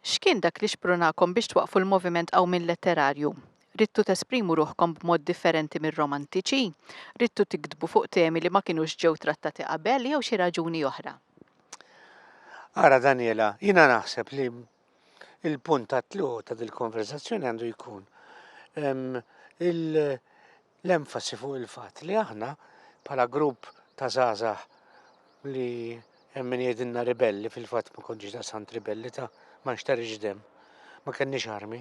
X'kien dak li xprunakom biex twaqqfu l-moviment qawmien letterarju? Ridtu tesprimu ruħkom b'mod differenti mir-Romantiċi? Ridtu tiktbu fuq temi li ma kinux ġew trattati qabel jew xi raġuni oħra? Ara Daniela, jiena naħseb li l-punt tat-tluq ta' dil-konverżazzjoni għandu jkun il- l-enfasi fuq il-fatt li aħna bħala grupp ta' żgħażagħ li hemm min jgħidilna ribelli fil-fatt ma kontx daqsant ribelli ta' ma nxtarix dem, ma kenniex armi.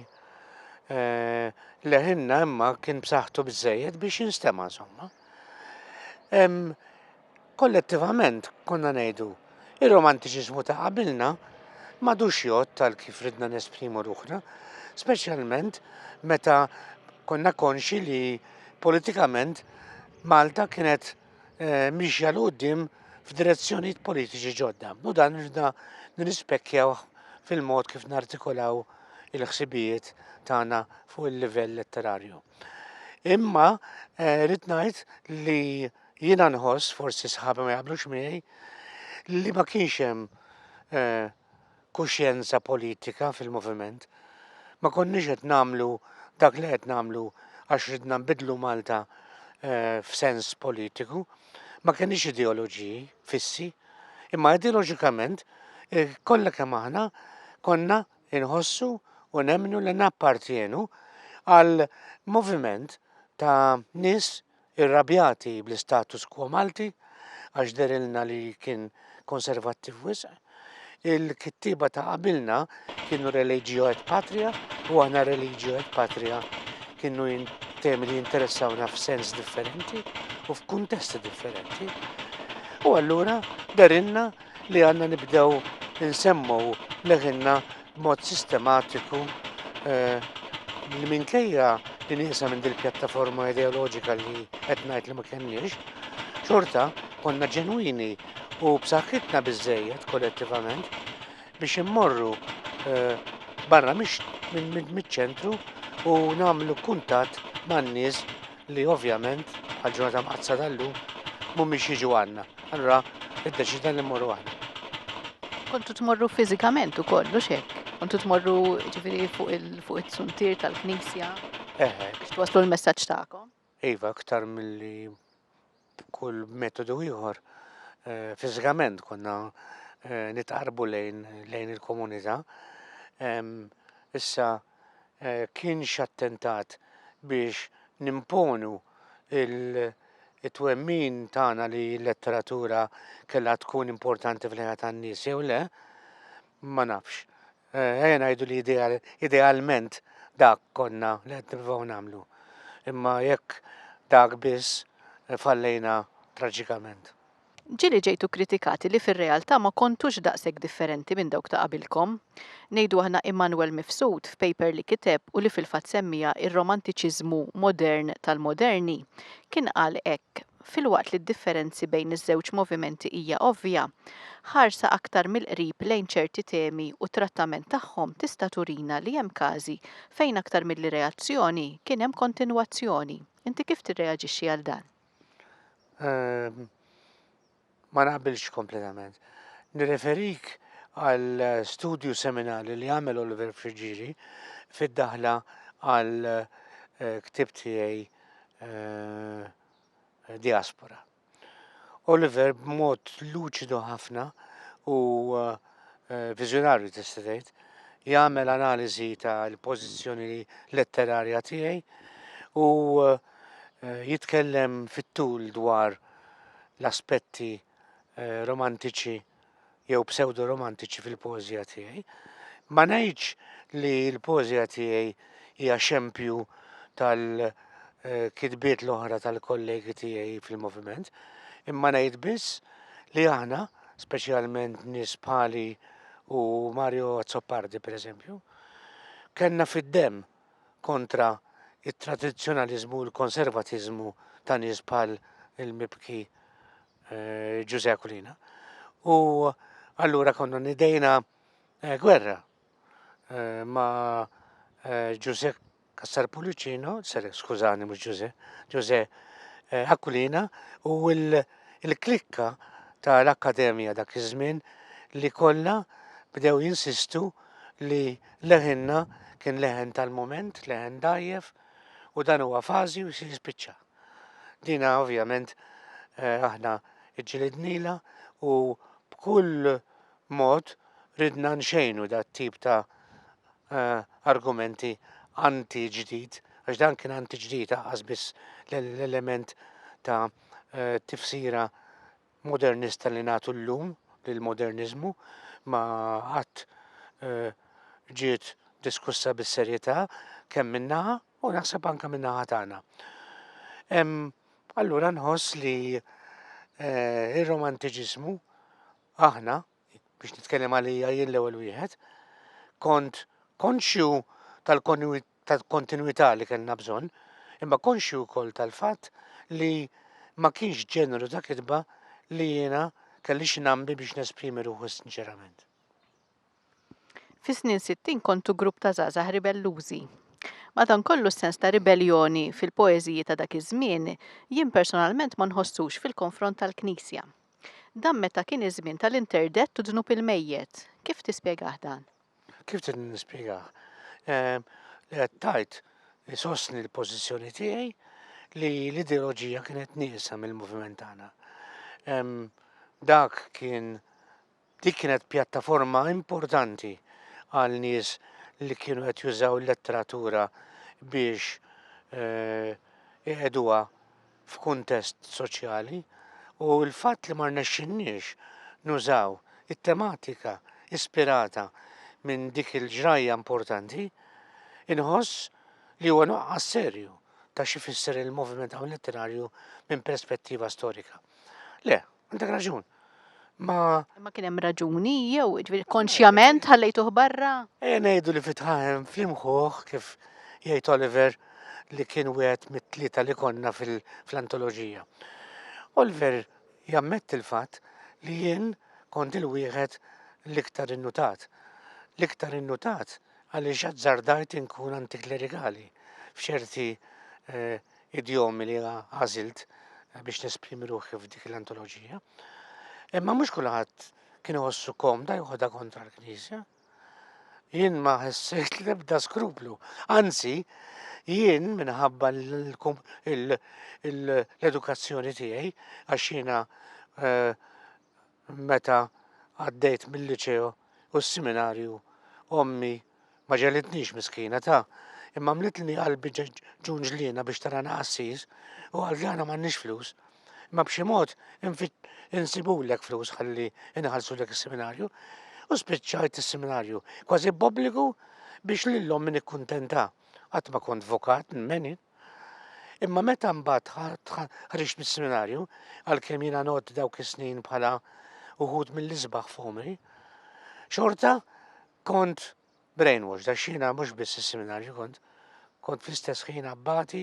Eh, leħinna imma kien b'saħħtu bżejjed biex jinstema' insomma. Kollettivament konna ngħidu, ir-romantiċiżmu ta' qabilna m'għadux jgħodd għal kif ridna nesprimu ruħna, speċjalment meta konna konxji li politikament Malta kienet miexja 'l quddiem f'direzzjonijiet politiċi ġodda u dan ridna nirrispecchjawh fil-mod kif nartikolaw il-ħsibijiet tagħna fuq il-livell letterarju. Imma rrid ngħid li Jiena nħoss, forsi sħabi ma jaqblux miegħi, li ma kienx hemm eh, kuxjenza politika fil-moviment. Ma konniex qed nagħmlu dak li qed nagħmlu għax ridna nbidlu Malta eh, f'sens politiku. Ma kenniex ideoloġiji fissi, imma ideoloġikament eh, kollha kemm aħna konna inħossu u nemmnu li nappartjenu għal moviment ta' nies Irrabjati bl-istatus quo Malti għax dehrilna li kien konservattiv wisq, il-kittieba ta' qabilna kienu religio et patria u aħna religio et patria kienu temi li jinteressawna f'sens differenti u f'kuntesti differenti. U allura dehrilna li għandna nibdew insemmu leħinna b'mod sistematiku li minkejja li nieqsa minn dil-pjattaforma ideoloġika li qed ngħid li ma kenniex, xorta konna ġenwini u b'saħħitna biżżejjed kollettivament biex immorru barra miċ-ċentru u nagħmlu kuntatt man-nies li ovvjament għal ġurnata mqaddsa tal-lum mhumiex jiġu għandna. Allura iddeċidna li mmorru aħna. Kontu tmorru fiżikament ukoll, mhux hekk? Kontu tmorru ġifieri fuq il-suntier tal-Knisja? Eħe. Biex twaslu l-messaġġ tagħkom? Iva, aktar milli b'kull metodu ieħor fiżikament konna nitqarbu lejn lejn il-komunità. Issa kienx attentat biex nimponu it-twemmin tagħna li l-letteratura kellha tkun importanti fl-ħajja tan-nies jew le, ma nafx. Eh, ejja ngħidu li idealment dak konna li qed nippruvaw nagħmlu. Imma jekk dak biss eh, fallejna traġikament. Ġili ġejtu kritikati li fir-realtà ma kontux daqshekk differenti minn dawk ta' qabilkom. Ngħidu aħna Immanuel Mifsud f'paper li kiteb u li fil-fatt semmija ir-romantiċiżmu modern tal-moderni kien qal hekk. filwaqt li d-differenzi bejn iż-żewġ movimenti hija ovvja, ħarsa aktar mill-qrib lejn ċerti temi u t-trattament tagħhom tista' turina li hemm każi fejn aktar milli reazzjoni, kien hemm kontinwazzjoni. Inti kif tirreaġixxi għal dan? Ehm, ma naqbilx kompletament. Nirreferik għal studju seminali li għamel Oliver Frigieri fid-daħla għal eh, ktib tiegħi eh, diaspora. Oliver b'mod luċidu ħafna u eh, viżjonarju tista' tgħid jagħmel analiżi tal-pożizzjoni letterarja tiegħi u eh, jitkellem fit-tul dwar l-aspetti eh, romantiċi jew psewdo-romantiċi fil-poeżija tiegħi. Ma ngħidx li l-poeżija tiegħi hija xempju tal-kitbiet l-oħra tal-kollegi tiegħi fil-moviment, imma ngħid biss li aħna, speċjalment nies bħali u Mario Azzopardi pereżempju, kellna fid-demm kontra t-tradizzjonaliżmu u l-konservatiżmu ta' nies bħal il-mibki eh, Ġużè Aquilina. U allura konna nidejna eh, gwerra eh, ma' Ġużè Kassar Pulicino, seri, skużani, mux Ġużè, Ġużè Aquilina, u l-klikka ta' l-Akkademija dak iż-żmien li kollha bdew jinsistu li leħinna kien leħen tal-mument, leħen dajjef, u dan huwa fażi u se jispiċċa. Dina ovvjament eh, aħna ġġilidnila u b'kull mod ridna nxejnu dat tip ta' eh, argumenti anti ġdid, għax dan kien anti ġdid għazbis l-element ta' eh, tifsira modernista li nagħtu llum lill-moderniżmu ma qatt eh, ġiet diskussa bis-serjetà kemm min-naħa u naħseb anke min-naħa tagħna. Allura nħoss li eh, ir-romantiċiżmu aħna biex nitkellem għalija jien l-ewwel wieħed, kont konxju tal-kontinwità li kellna bżonn, imma konxju wkoll tal-fatt li ma kienx ġeneru ta' kitba li jiena kelli x'nambi biex nesprimi ruħu sinċerament. Fis-snin 60 kontu grupp ta' żgħażagħ ribellużi. Madankollu s-sens ta' ribelljoni fil-poeżiji ta' dak iż-żmien jien personalment ma nħossux fil-konfront tal-Knisja. Dan meta kien iż-żmien tal-interdett u dnub il-mejjet. Kif tispjegah dan? Kif trid nispjegah? Ehm, li qed tgħid isostni l-pożizzjoni tiegħi li l-ideoloġija kienet nieqsa mill-moviment tagħna. Ehm, dak kien Dik kienet pjattaforma importanti għal nies li kienu qed jużaw l-letteratura biex eh, iqeduha f'kuntest soċjali u l-fatt li ma rnexxinniex nużaw it-tematika ispirata minn dik il-ġrajja importanti, inħoss li huwa nuqqas serju ta' xi fisser il-moviment hawn letterarju minn perspettiva storika. Le, Għandek raġun. Ma. Ma kien hemm raġuni jew ġifieri konxjament ħallejtuh barra? Ejja eh, ngħidu li fitħahem flimħuh kif jgħid Oliver li kien wieħed mit-tlieta li konna fil-antoloġija. Oliver jammetti l-fatt li jien kont il-wieħed l-iktar innutat. L-iktar innutat għaliex azzardajt inkun antiklerikali f'ċerti eh, idjomi li għażilt biex nesprimi ruħi f'dik l-antoloġija. Imma mhux kulħadd kien iħossu komda joħodha kontra l-Knisja. Jien ma ħessejt l-ebda skruplu. Anzi, jien minħabba l-edukazzjoni tiegħi għax jiena eh, meta għaddejt mil-liċeo u s-siminarju ommi ma ġelidnix miskina ta' imma mlitlni qalbi ġun ġliena biex tarana qassis u għal dana m'għandniex flus. Imma b'xi mod insibulek flus ħalli inħallsulek is-seminarju u spiċċajt is-seminarju kważi b'obbligu biex lil ommi nikkuntenta. Qatt ma kont vokat nmeni. Imma meta mbagħad ħriġt mis-seminarju, għalkemm jiena nod dawk is-snin bħala uħud mill-isbaħ f'għomri, xorta kont brainwash, da xina mhux biss is-seminarju kont, kont fl-istess ħin abbati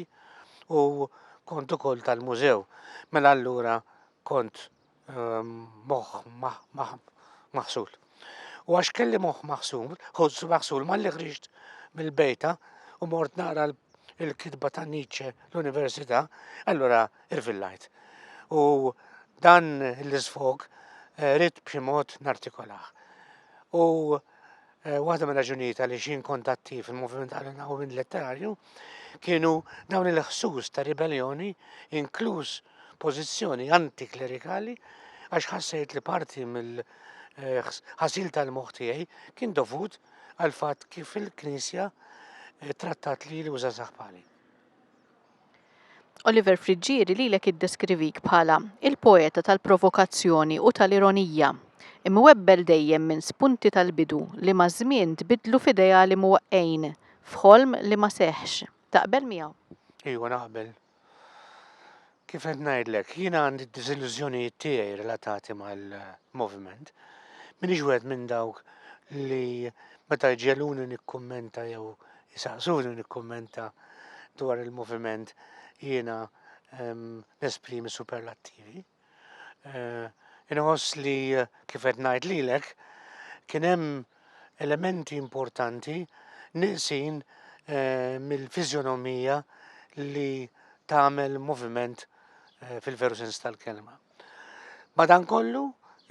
u kont ukoll tal-mużew. Mela allura kont ehm, moħħ maħsul. U għax kelli moħħ maħsul, ħoss maħsul ma li ħriġt mill-bejta u mort naqra l-kitba ta' Nietzsche l-Università, allura irvillajt. U dan l-isfog eh, rrit b'xi mod nartikolaħ. U Eh, waħda minn raġunijiet għaliex jien kont attiv fil-moviment għal-ħawmin letterarju kienu dawn il-ħsus ta' ribellioni, inkluż pożizzjoni antiklerikali, għax ħassejt li parti mill-ħasil eh, tal-moħħ tiegħi kien dovut għal fatt kif il-Knisja eh, trattat li li uża saħpali. Oliver Friggieri lilek iddeskrivik bħala il-poeta tal-provokazzjoni u tal-ironija, imwebbel dejjem minn spunti tal-bidu li maż-żmien tbiddlu f'ideali mwaqqgħin f'ħolm li ma seħħx. Taqbel miegħu? Iva naqbel. Kif qed ngħidlek, jiena għandi d-diżillużjonijiet tiegħi relatati mal-moviment. M'iniex wieħed minn dawk li meta jġegħluni nikkummenta jew Isaqsuni nikkummenta dwar il-moviment jiena ehm, nesprimi superlattivi. Eh, inħoss li eh, kif qed ngħid lilek kien hemm elementi importanti niqsin eh, mill-fiżjonomija li tagħmel moviment fil-veru sens tal-kelma. Madankollu,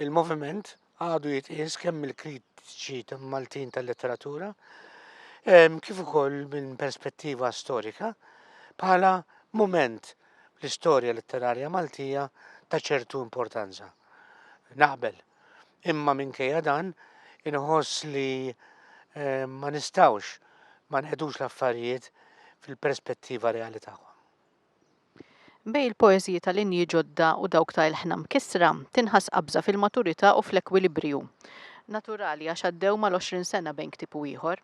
il-moviment għadu jitqies kemm mill-kritiċi Maltin tal-letteratura ehm, kif ukoll minn perspettiva storika bħala mument l-istorja letterarja Maltija ta' ċertu importanza. Naqbel, imma minkejja dan inħoss li ehm, ma nistawx ma nqedux l-affarijiet fil-perspettiva reali tagħhom. Bejn il-poeżiji ta' linji ġodda u dawk ta' ilħna mkissra, tinħass qabża fil-maturità u fl-ekwilibriju naturali għax għaddew mal-għoxrin sena bejn ktieb u ieħor.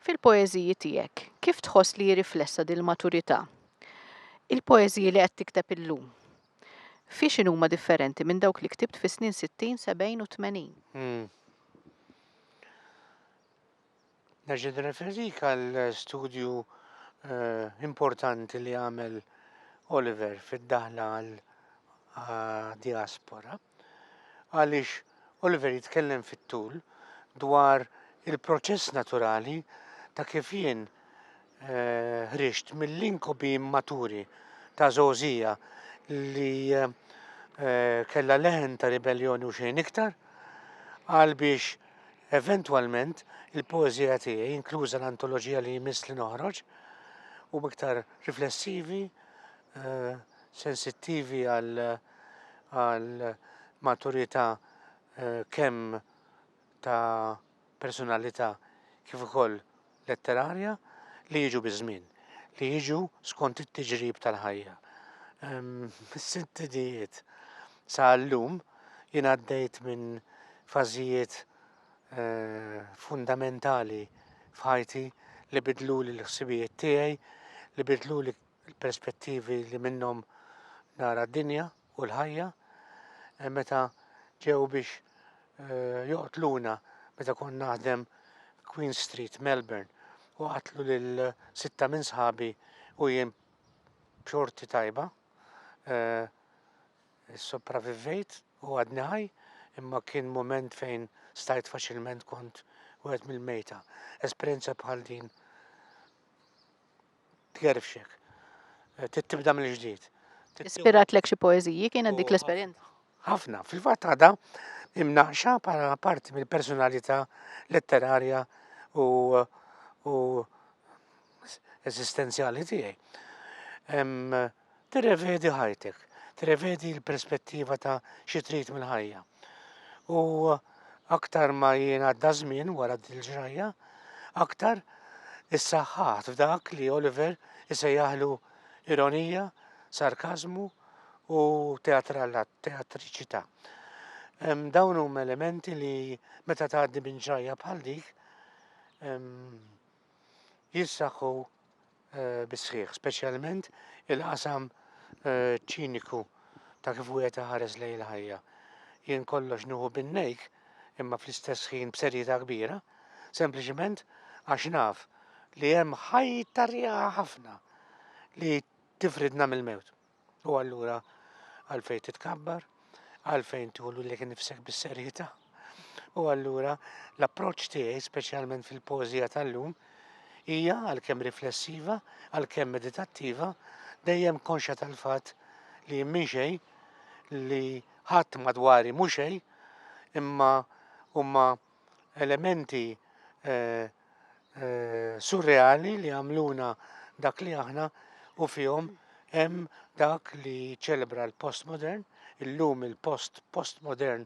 Fil-poeżiji tiegħek, kif tħoss li hi riflessa din il-maturità? Il-poeżiji li qed tikteb illum, fi x'inhuma differenti minn dawk li ktibt fis-snin sittin, sebgħin u tmenin? Nerġa' nirreferik għal studju importanti li għamel Oliver fid-daħla għal diaspora għaliex Oliver jitkellem fit-tul dwar il-proċess naturali ta' kif jien Ħriġt mill-inkubi immaturi ta' Żgħożija li kellha leħen ta' ribelljoni u xejn iktar, għal biex eventwalment il-poeżija tiegħi, inkluża l-antoloġija li jmiss li noħroġ, u iktar riflessivi, sensittivi għal maturità kemm ta' personalità kif ukoll letterarja li jiġu biż-żmien, li jiġu skont it-tiġrib tal-ħajja. Mis-sitt idijiet sa llum jien għaddejt minn fażijiet eh, fundamentali f'ħajti li bidluli l-ħsibijiet tiegħi, li bidluli l-perspettivi li minnhom nara d-dinja. u l-ħajja meta ġew biex joqtluna meta kont naħdem Queen Street, Melbourne, u qatlu lil sitta minn sħabi u jien b'xorti tajba sopravivvejt u għadni ħaj imma kien mument fejn stajt faċilment kont wieħed mill-mejta. Esperjenza bħal din Tgerfxek. Trid tibda mill-ġdid. Ispiratlek xi poeżiji kienet dik l-esperjenza? Ħafna, fil-fatt għadha imnaqxa bħala parti mill-personalità letterarja u u eżistenzjali tiegħi. Tirrevedi ħajtek, tirrevedi l-perspettiva ta' xi trid mill-ħajja. U aktar ma jien għadda żmien wara dil-ġrajja, aktar issaħħaħt f'dak li Oliver isejjaħlu ironija, sarkażmu u teatriċità. Dawn huma elementi li meta tgħaddi minn ġrajja bħal dik jissaħħu bis-sħiħ, speċjalment il-qasam ċiniku ta' kif wieħed iħares lejn il-ħajja. Jien kollox nieħu bin-nejk imma fl-istess ħin b'serjetà kbira, sempliċement għax naf li hemm ħajta rieqha ħafna li tifridna mill-mewt. U allura għalfejn titkabbar, għalfejn tħullu li kien nifsek bis-serjetà. U allura l-approċċ tiegħi speċjalment fil-pożija tal-lum hija għalkemm riflessiva, għalkemm meditattiva, dejjem konxa tal-fatt li minn xejn li ħadd madwari mhux xejn imma huma elementi surreali li għamluna dak li aħna u fihom hemm dak li ċelebra l-postmodern, illum il-post postmodern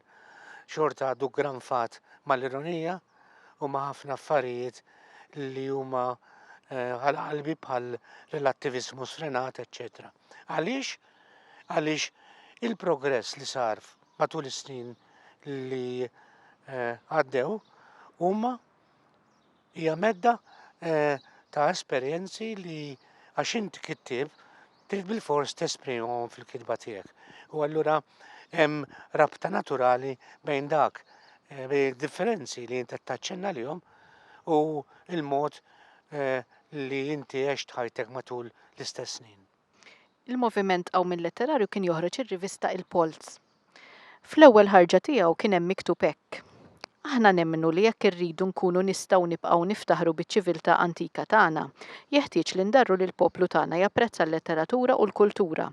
xorta għadu granfat mal-ironija u ma' ħafna affarijiet li huma għal qalbi bħal relattiviżmu sfrenat, eċċetera. Għaliex? Għaliex il-progress li sar matul is-snin li eh, għaddew huma hija medda eh, ta' esperjenzi li għax int kittib trid bil-fors tesprimhom fil-kitba tiegħek. U allura hemm rabta naturali bejn dak eh, bejn differenzi li inti taċċenna lihom u il-mod eh, li inti għext ħajtek matul l-istess snin. Il-moviment qawmi letterarju kien joħroġ ir-rivista Il-Polz. Fl-ewwel ħarġa tiegħu kien hemm miktub hekk, Aħna nemmnu li jekk irridu nkunu nistgħu nibqgħu niftaħru biċ-ċiviltà antika tagħna, jeħtieġ li ndarru li l-poplu tagħna japprezza l-letteratura u l-kultura.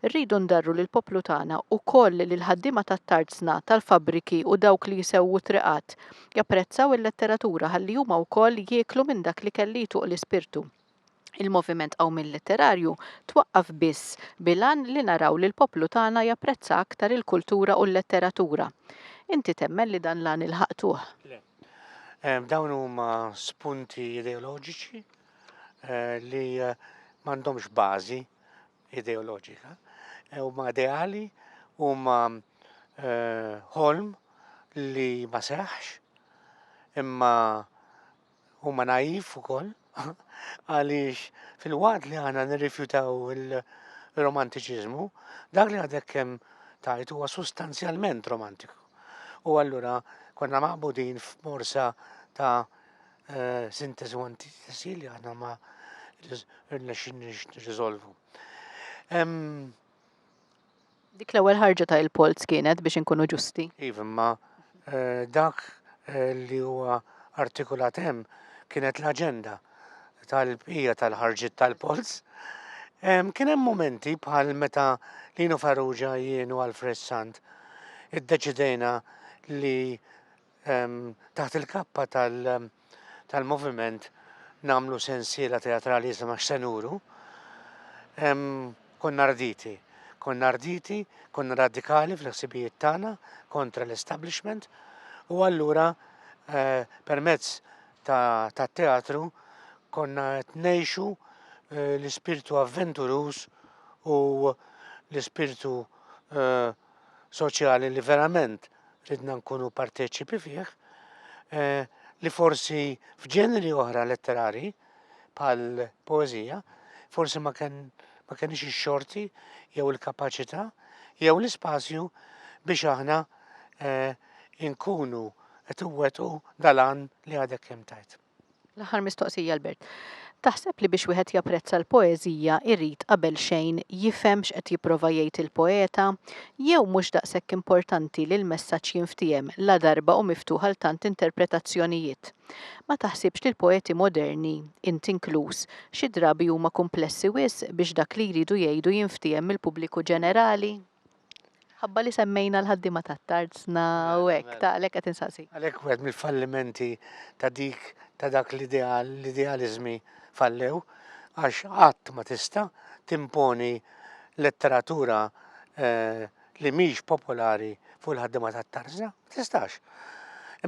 Rridu ndarru li l-poplu tagħna wkoll li l-ħaddiema tat-tarzna, tal-fabbriki u dawk li jsewwu triqat japprezzaw il-letteratura ħalli huma wkoll jieklu minn dak l-ikel li jtuqq l-ispirtu. Il-moviment Qawmien Letterarju twaqqaf biss bil-għan li naraw li l-poplu tagħna japprezza aktar il-kultura u l-letteratura. Inti temmen li dan l-għan ilħaqtuh? Le. Dawn huma spunti ideoloġiċi li m'għandhomx bażi ideoloġika. Huma ideali, huma ħolm li ma seħħx imma huma naif ukoll għaliex fil-waqt li aħna nirrifjutaw il-romantiċiżmu, dak li għadek kemm tajt huwa sustanzjalment romantiku. U allura konna maqbudin f'morsa ta' eh, sintesi u antitesi li aħna ma rnexxinniex nirriżolvu. Dik l-ewwel ħarġa ta' il-polz kienet biex inkunu ġusti. Iva, imma dak li huwa artikulat hemm kienet l-aġenda tal-bqija tal-ħarġiet tal-polz. Kien hemm mumenti bħal meta Lino Farrugia jien u Alfred Sant iddeċidejna li taħt il-kappa tal-moviment namlu sensiela teatrali jisima x'senuru, konna arditi. Konna arditi, konna radikali fl-ħsibijiet tagħna kontra l-establishment u allura eh, permezz ta' teatru konna qed ngħixu eh, l-ispirtu avventuruż u l-ispirtu eh, soċjali li verament ridna nkunu parteċipi fih, eh, li forsi f'ġeneri oħra letterari bħal poezija, forsi ma kien ma kenix ix-xorti jew il-kapaċità jew l-ispazju biex aħna eh, inkunu qed iwettqu dalan li għadek kemm tajt. L-aħħar mistoqsija Albert. Taħseb li biex wieħed japprezza l-poeżija jrid qabel xejn jifhem x'qed jipprova jgħid il-poeta? Jew mhux daqshekk importanti li l-messaġġ jinftiehem ladarba hu miftuħ għal tant interpretazzjonijiet? Ma taħsibx li l-poeti moderni, int inkluż, xi drabi huma kumplessi wisq biex dak li jridu jgħidu jinftiehem mill-pubbliku ġenerali? Ħabba li semmejna l-ħaddiema tat-tarzna u mela, hekk, mela. ta' għalhekk qed insaqsi. Għalhekk wieħed mill-fallimenti ta' dik ta' dak l-ideal, l-idealiżmi fallew, għax qatt ma tista' timponi letteratura eh, li mhix popolari fuq il-ħaddiema tat-tarzna, ma tistax.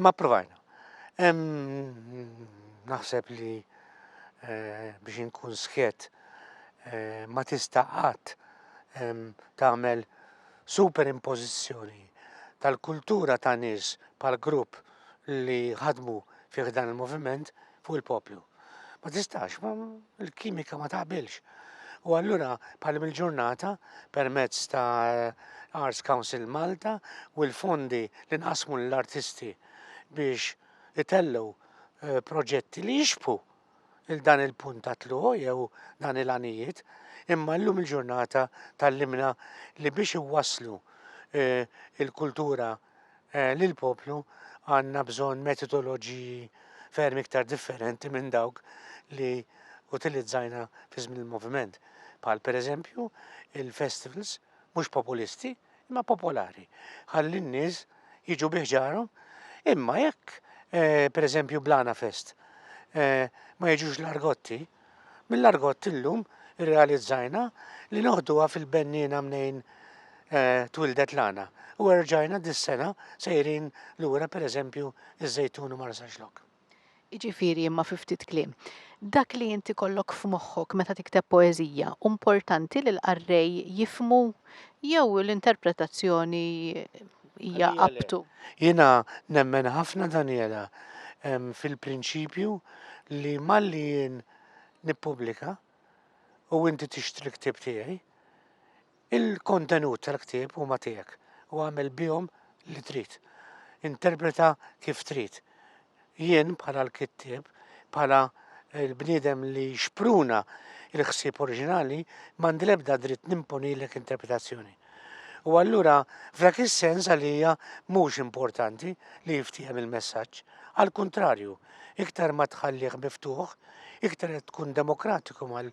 Imma provajna. Naħseb li eh, biex inkun sħiet eh, ma tista' qatt tagħmel superimpożizzjoni tal-kultura ta' nies bħal grupp li ħadmu fih dan il-moviment fuq il-poplu. Ma tistax, ma l-kimika ma taqbilx. U allura bħal il-ġurnata permezz ta' Arts Council Malta u l-fondi li nqasmu l-artisti biex itellu eh, proġetti li jixbu il dan il-punt ta' tluq jew dan il-għanijiet, imma llum il-ġurnata tal-limna li biex iwasslu eh, il-kultura eh, lill-poplu għandna bżonn metodoloġiji ferm iktar differenti minn dawk li utilizzajna fi żmien il-moviment. Bħal pereżempju il-festivals mhux populisti, imma popolari, ħalli n-nies jiġu bi ħġarhom. Imma jekk, eh, per eżempju, Blana Fest eh, ma jiġux l-argotti, mill-argott illum irrealizzajna li noħduha fil-bennina mnejn eh, twildet lana u erġajna dis-sena sejrin lura pereżempju iż-żejtun u marsaxlok. Jiġifieri, imma fi ftit kliem, dak li int ikollok f'moħħok meta tikteb poeżija, hu mportanti li l-qarrej jifhmu jew l-interpretazzjoni hija up to? Jiena nemmen ħafna Daniela fil-prinċipju li malli jien nippubblika u inti tixtri l-ktieb tiegħi, Il-kontenut tal-ktieb huma tiegħek u agħmel bihom li trid. Interpreta kif trid. Jien bħala l-kittieb, bħala l-bniedem li xpruna l-ħsieb oriġinali, m'għandi l-ebda dritt nimponilek interpretazzjoni. U allura f'dak is-sens għalija mhux importanti li jiftiehem il-messaġġ. Għall-kuntrarju, iktar ma tħallih miftuħ, iktar qed tkun demokratiku mal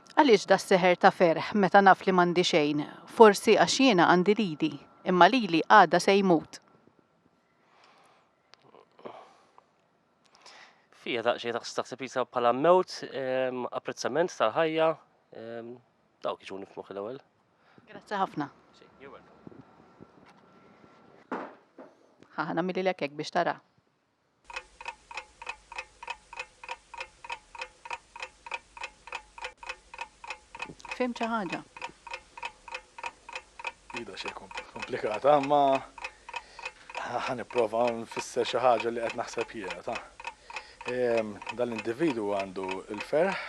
Għaliex das-seħer ta' ferħ meta naf li m'għandi xejn? Forsi għax jiena għandi lili, imma lili għada se jmut. Fija daqsxejn taħseb jisa bħala mewt, ehm, apprezzament tal-ħajja, ehm, dawk iġuni f'moħħi l-ewwel. Grazzi ħafna. Ħa ħana milli l biex tara. Fhimt xi ħaġa? Hi daqsxejn komplikata, imma ħa nipprova nfisser xi ħaġa li qed naħseb jiena, ta. Dan l-individwu għandu l-ferħ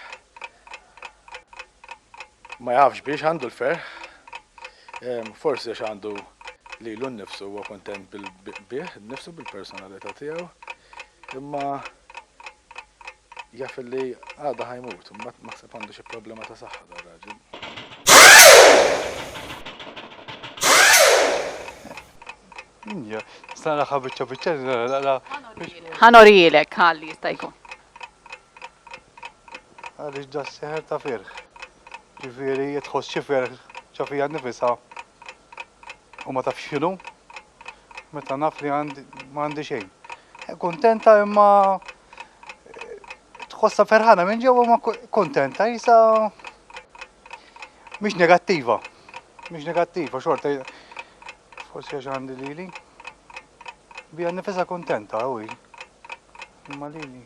Ma jafx biex għandu l-ferħ. Forsi għax għandu lilu nnifsu huwa kuntent bih innifsu bil-personalità tiegħu. Imma jaf li għada ħajmut, mbagħad naħseb għandu xi problema ta' saħħa dar raġel. Sta naraħħa biċċa biċċa li nara naqra. Ħanorijilek ħalli jista' jkun. Għaliex da s-seħer ta' firħ. Ġifieri jekk tħoss xi ferħ ġo fija nnifisha u ma tafx x'inhu, meta naf li ma għandi xejn. Kuntenta imma tħossha ferħana minn ġewwa ma kuntenta jisa mhix negattiva. Mhix negattiva xorta forsi għax għandi lili. Bija nnifisha kuntenta u Imma lili,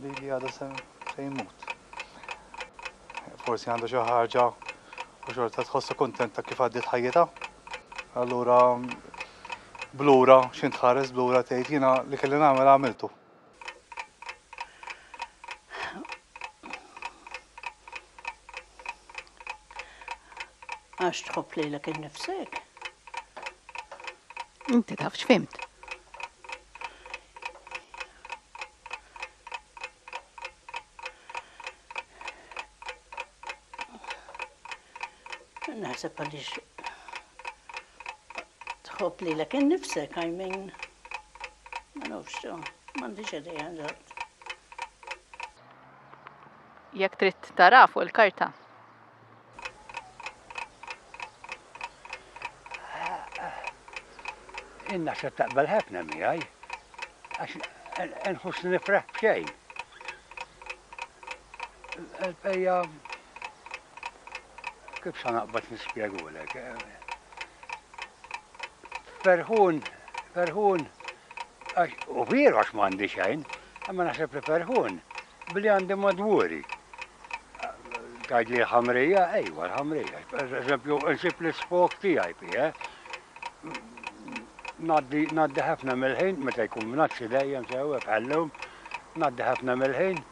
lili għadu se jmut. Forsi għandu xi ħaġa u xorta tħossu kuntenta kif għaddiet ħajjitha. Allura blura x'in tħares blura tgħid jiena li kelli nagħmel għamiltu. Għax tħobb lilek innifsek. Inti taf x'fimt. Naħseb għaliex tħobb li l-ek nifsek, I mean, ma nafx, mandi xedej għanġat. Jek trid tara fuq il-karta. Jien naħseb taqbel ħafna miegħi għax inħossni nifraħ b'xejn. Il-bqija kif sa naqbad nispjegulek. Ferħun, ferħun, u vieru għax m'għandi xejn, imma naħseb li ferħun Billi għandi madwuri. Tgħidli l-ħamrija? Ejwa, l-ħamrija. Pereżempju, insib l-isfog tiegħi fih. Ngħaddi, ngħaddi ħafna mill-ħin, meta jkun mnaxxi dejjem sew, bħall-lum, ngħaddi ħafna mill-ħin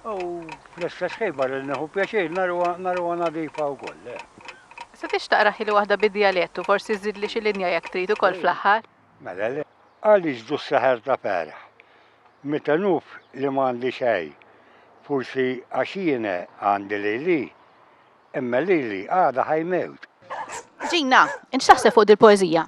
u fl-istess ħin barra li nieħu pjaċir naruha, naruha nadifa wkoll. Se tixtaq raħili waħda bid-djalett u forsi żżidli xi linja jekk trid ukoll fl-aħħar? Mela le. Għaliex du s-seħer ta' perħ? Meta nuf li m'għandi xejn. Forsi għax jiena għandi lili. Imma lili għada ħajmewt. Gina, int x'taħseb fuq dil-poeżija?